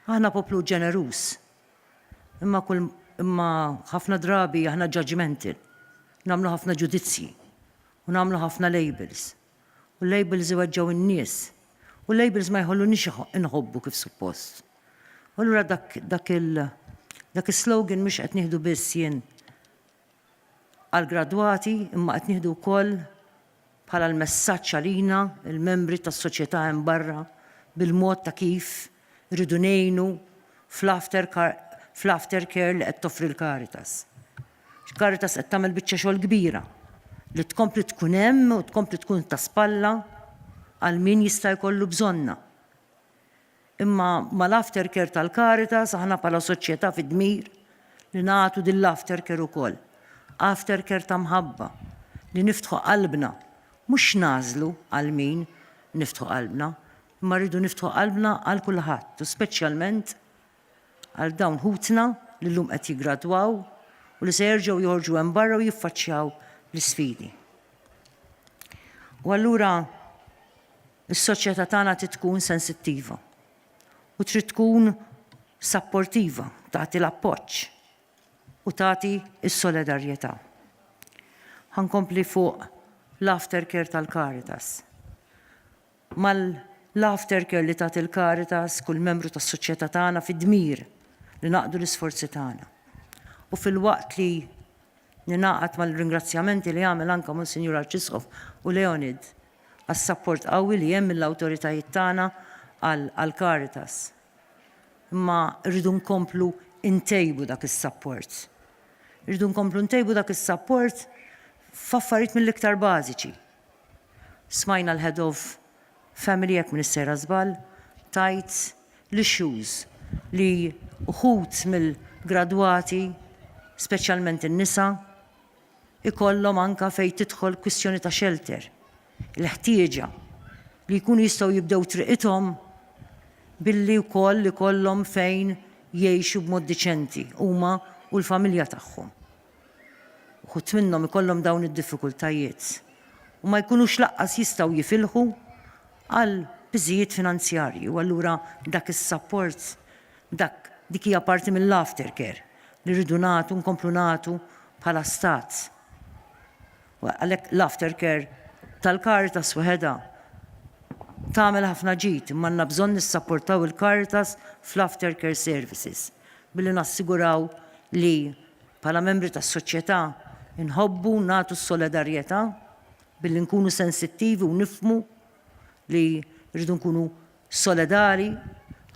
Aħna poplu ġeneruż. Imma kull imma ħafna drabi aħna judgmental. Namlu ħafna ġudizzji u namlu ħafna labels. U labels iweġġaw in-nies. U labels ma jħollu nix inħobbu kif suppost. U lura dak dak il dak is-slogan mhux qed nieħdu biss jien għall-gradwati imma qed nieħdu wkoll bħala l-messaġġ għalina l-membri tas-soċjetà hemm barra bil-mod ta' kif irridu ngħinu fl-aftercare li qed toffri l-Caritas. Caritas qed tagħmel biċċa xogħol kbira li tkompli tkun hemm u tkompli tkun ta' spalla għal min jista' jkollu bżonna. Imma mal-aftercare tal-Caritas aħna bħala soċjetà fid-dmir li nagħtu din l-aftercare ukoll. Aftercare ta' mħabba, li niftħu qalbna, mhux nagħżlu għal min niftħu qalbna, imma rridu niftħu qalbna għal kulħadd u speċjalment għal dawn ħutna li llum qed jiggradwaw u li se jerġgħu joħorġu hemm barra u jiffaċċjaw l-isfidi. U allura Is-soċjetà tagħna trid tkun sensittiva u trid tkun sapportiva, tagħti l-appoġġ u tagħti s-solidarjetà. Ħa nkompli fuq l-aftercare tal-Caritas. Mal-aftercare li tagħti l-Caritas, kull membru tas-soċjetà tagħna fi dmir li naqdu l-isforzi tagħna. U filwaqt li ningħaqad mal-ringrazzjamenti li għamel anke Monsinjur Arċisqof u Leonid, għas-sapport qawwi li hemm mill-awtoritajiet tagħna għall-Caritas. Imma rridu nkomplu ntejbu dak is-sapport. Irridu nkomplu ntejbu dak is-sapport f'affarijiet mill-iktar bażiċi. Smajna l-Head of Family jekk m'iniex sejra żball tgħid l-issues li uħud mill-gradwati, speċjalment in-nisa, ikollhom anke fejn tidħol kwistjoni ta' xelter, il-ħtieġa li jkunu jistgħu jibdew triqithom billi wkoll ikollhom fejn jgħixu b'mod diċenti huma u l-familja tagħhom. Uħud minnhom ikollhom dawn id-diffikultajiet u ma jkunux laqqas jistgħu jifilħu għal piżijiet finanzjarji u allura dak is-sapport dak dik hija parti mill-aftercare. li rridu nagħtu, nkomplu nagħtu bħala Stat. Għalhekk l-aftercare tal-Caritas waħedha tagħmel ħafna ġid, imma għandna bżonn nissapportaw il-Caritas fl-aftercare services billi nassiguraw li bħala membri tas-soċjetà nħobbu nagħtu s-solidarjetà billi nkunu sensittivi u nifhmu li rridu nkunu solidali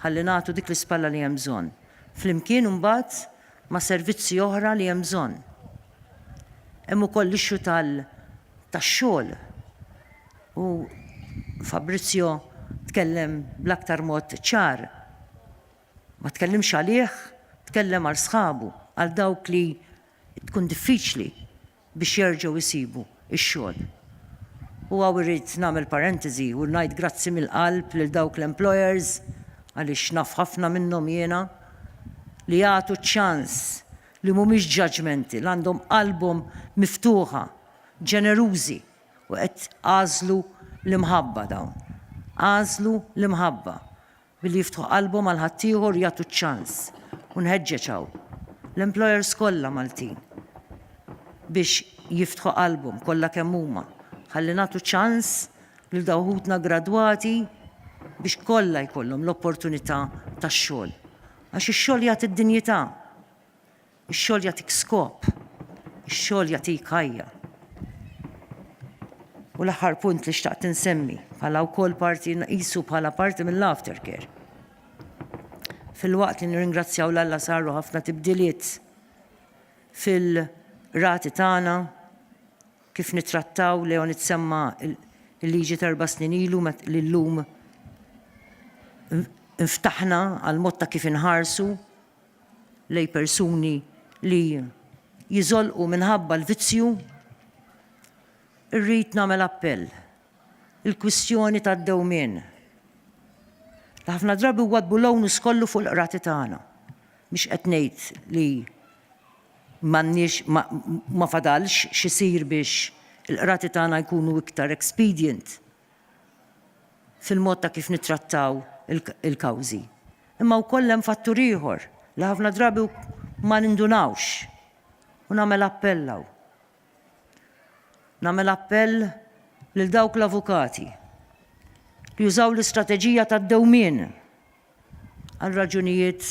ħalli nagħtu dik l-ispalla li hemm bżonn, flimkien imbagħad ma' servizzi oħra li hemm bżonn. Hemm ukoll l-issue tal tax-xogħol u Fabrizio tkellem bl-aktar mod ċar. Ma tkellimx għalih, tkellem għal sħabu, għal dawk li tkun diffiċli biex jerġgħu jsibu x-xogħol. U hawn irrid nagħmel parentesi u ngħid grazzi mill-qalb lil dawk l-employers, għaliex naf ħafna minnhom jiena, li jagħtu ċ-ċans, li mhumiex judgemental, għandhom qalbhom miftuħa, ġenerużi u qed għażlu l-imħabba dawn. Għażlu l-imħabba. billi jiftħu qalbhom għal ħaddieħor jagħtu ċ-ċans u nħeġġeġ hawn l-employers kollha Maltin biex jiftħu qalbhom kollha kemm huma ħalli nagħtu ċans lil dawn ħutna gradwati biex kollha jkollhom l-opportunità tax-xogħol. Għax ix-xogħol jagħti d-dinjità. Ix-xogħol jagħtik skop. Ix-xogħol jagħtik ħajja. U l-aħħar punt li xtaqt insemmi, bħala wkoll parti nqisu bħala parti mill-aftercare. Filwaqt li nirringrazzjaw l-Alla saru ħafna tibdiliet fil-rati tagħna kif nitrattaw Leon itsemma il-liġi terba' snin ilu li llum nftaħna għal mod ta' kif inħarsu lejn persuni li jiżolqu minħabba l-vizzju, irrid nagħmel appell. Il-kwistjoni tad-dewmien. Ħafna drabi wadbu l-onus kollu fuq il-qrati tagħna. Mhux qed ngħid li m'għandniex ma fadalx x'isir biex il-qrati tagħna jkunu iktar expedient fil-mod ta' kif nittrattaw il-kawżi. Imma wkoll hemm fattur ieħor li ħafna drabi ma nindunawx u nagħmel appell hawn. Nagħmel appell lil dawk l-avukati li jużaw l-istrateġija tad-dewmien għal raġunijiet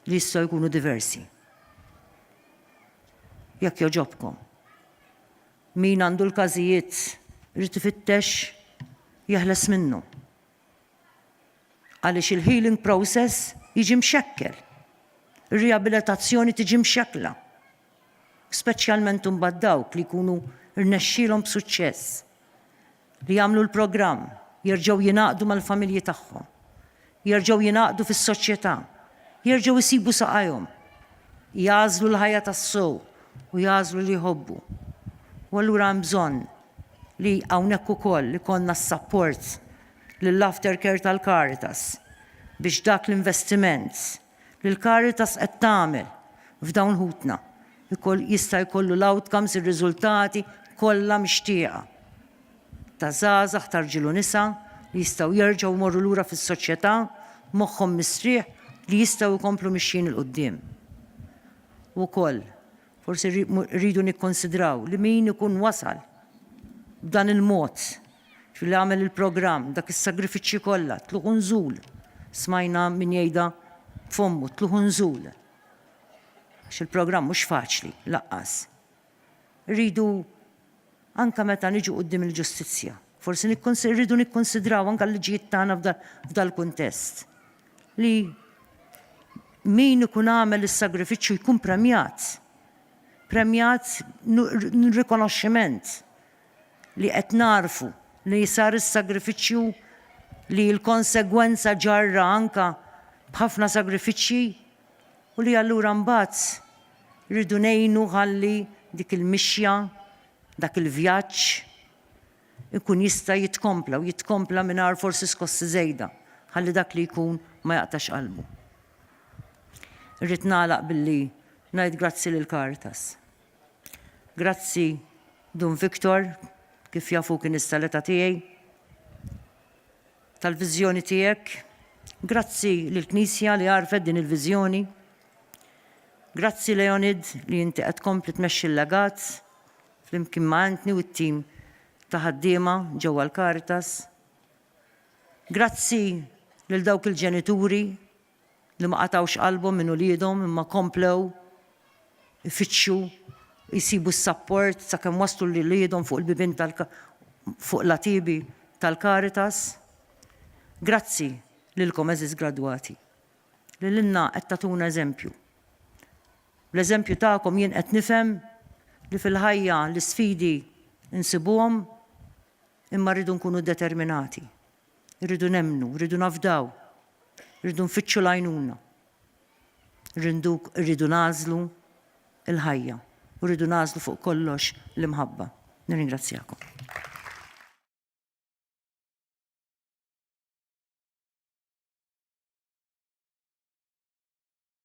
li jistgħu jkunu diversi. Jekk joġobkom. Min għandu l-każijiet irid ifittex jeħles minnhom. Għaliex il-healing process jiġi mxekkel. Ir-riabilitazzjoni tiġi mxekkla. Speċjalment imbagħad dawk li jkunu rnexxielhom b'suċċess. li jagħmlu l-programm jerġgħu jingħaqdu mal-familji tagħhom, jerġgħu jingħaqdu fis-soċjetà, jerġgħu jsibu saqajhom, jagħżlu l-ħajja tas-sew u jagħżlu li jħobbu. U allura hemm bżonn li hawnhekk ukoll ikollna s-sapport lill-aftercare tal-Caritas biex dak l-investiment li l-Caritas qed tagħmel f'dawn ħutna jista' jkollu l-outcomes, ir-riżultati kollha mixtieqa ta' żgħażagħ ta' rġiel u nisa li jistgħu jerġgħu jmorru lura fis-soċjetà b'moħħhom mistrieħ li jistgħu jkomplu mixjin 'il quddiem. U wkoll, forsi rridu nikkonsidraw li min ikun wasal b'dan il-mod X'hu li għamel il-programm, dak is-sagrifiċċju kollha, tlugħ u nżul. Smajna min jgħidha b'fommu, tlugħ u nżul. Għax il-programm mhux faċli, laqqas. Irridu anke meta niġu quddiem il-ġustizzja. Forsi rridu nikkonsidraw anke l-liġijiet tagħna f'dal-kuntest. Li min ikun għamel is-sagrifiċċju jkun premjat. Premjat rikonoxximent. li qed nagħrfu li sar is-sagrifiċċju li l-konsegwenza ġarra anke b'ħafna sagrifiċċji u li allura mbagħad rridu ngħinu ħalli dik il-mixja, dak il-vjaġġ ikun jista' jitkompla u jitkompla mingħajr forsi skossi żejda ħalli dak li jkun ma jaqtax qalbu. Irrid nagħlaq billi ngħid grazzi lill-Caritas. Grazzi, Dun Victor, kif jaf hu kien issa l-età tiegħi, tal-viżjoni tiegħek. Grazzi lill-Knisja li għarfet din il-viżjoni. Grazzi Leonid li inti qed tkompli tmexxi l-legat flimkien ma' Anthony u t-tim ta' ħaddiema ġewwa l-Caritas. Grazzi lil dawk il-ġenituri li ma qatgħux qalbhom minn uliedhom imma komplew ifittxu jsibu s-sapport sakemm waslu lil uliedhom fuq il-bibien tal fuq l-għatiebi tal-Caritas. Grazzi lilkom għeżież gradwati li lilna qed tagħtuna eżempju. Bl-eżempju tagħkom jien qed nifhem li fil-ħajja l-isfidi nsibuhom imma rridu nkunu determinati. Irridu nemmnu, irridu nafdaw, irridu nfittxu l-għajnuna. Irrindu, irridu nagħżlu l-ħajja u rridu nagħżlu fuq kollox l-imħabba. Nirringrazzjakom.